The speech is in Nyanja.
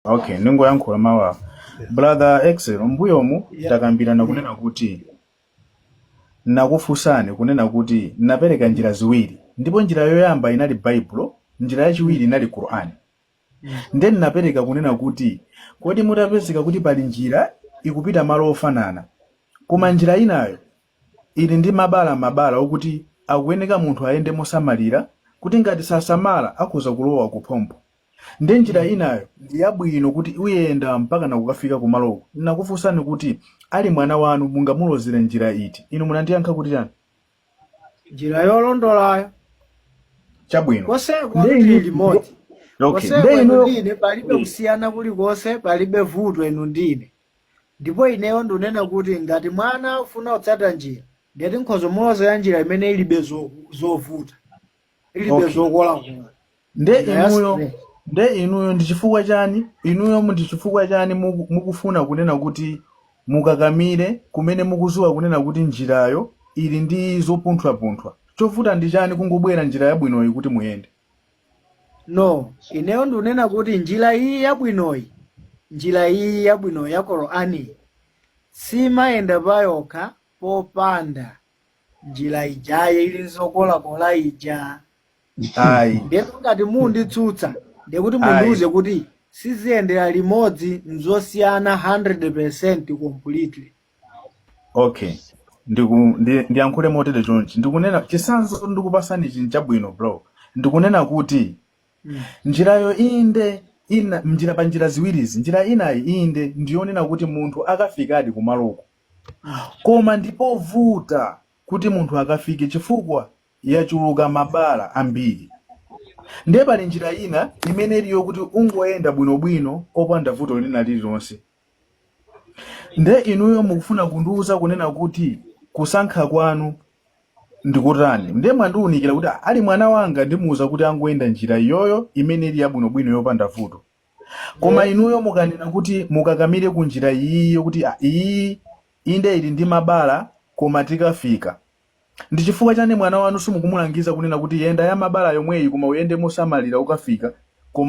okay ndingoyankhula mawu awa brother Excel mbuyomu takambirana kunena kuti nakufunsani kunena kuti napereka njira ziwiri ndipo njira yoyamba inali baibulo njira yachiwiri inali qurani nde napereka kunena kuti kodi mutapezeka kuti pali njira ikupita malo ofanana koma njira inayo ili ndi mabala mabala okuti akuyeneka munthu ayende mosamalira kuti ngati sasamala akhoza kulowa kuphompho Nde njira inayo ndi yabwino kuti uyenda mpakana kukafika kumaloko. Nnakufunsani kuti ali mwana wanu mungamulozere njira iti? Inu munandiyankha kuti chani? Njira yolondolayo. Chabwino. Konseko tili limodzi. okay, Konseko inu ndi ine palibe kusiyana kulikonse, palibe vuto inu ndi ine. Ndipo ineyo ndunena kuti ngati mwana akufuna kutsata njira, ndeti nkhoza kumulozera njira imene ilibe zo- zovuta. ilibe zokolakola. Okay. nde inuyo nde inuyo ndi chifukwa chani inuyo mu- ndi chifukwa chani muku- mukufuna kunena kuti mukakamire kumene mukuziwa kunena kuti njirayo ili ndi zopunthwapunthwa chovuta ndi chani kungobwera njira yabwinoyi kuti muyende no ineyo ndunena kuti njira iyi yabwinoyi njira iyi yabwinoyi ya qurani simayenda payokha popanda njira ijayo ili nzokolakola ija ayi ndiye ngati munditsutsa ndiye kuti mundiuze kuti siziyendera limodzi nzosiyana 100% completely okay ndiku ndi- ndiyankhule motere chonchi ndikunena chitsanzo ndikupasani ichi nchabwino bro ndikunena kuti Mm. njirayo inde njira pa njira ziwirizi njira inayi inde ndiyonena kuti munthu akafikadi kumaloko Koma ndi povuta kuti munthu akafike chifukwa yachuluka mabala ambiri. Ndiye pali njira ina imene ili yokuti ungoyenda bwinobwino opanda vuto lina lililonse. Nde inuyo mukufuna kundiuza kunena kuti kusankha kwanu ndikutani? Nde mwandiunikira kuti ali mwana wanga ndimuuza kuti angoyenda njira iyoyo imene ili yabwinobwino yopanda vuto. Koma inuyo mukanena kuti mukakamire ku njira iyi yokuti ah, iyi inde ili ndi mabala koma tikafika. Ndi chifukwa chani mwana wanu simukumulangiza kunena kuti yenda ya mabala yomweyi koma uyende mosamalira ukafika koma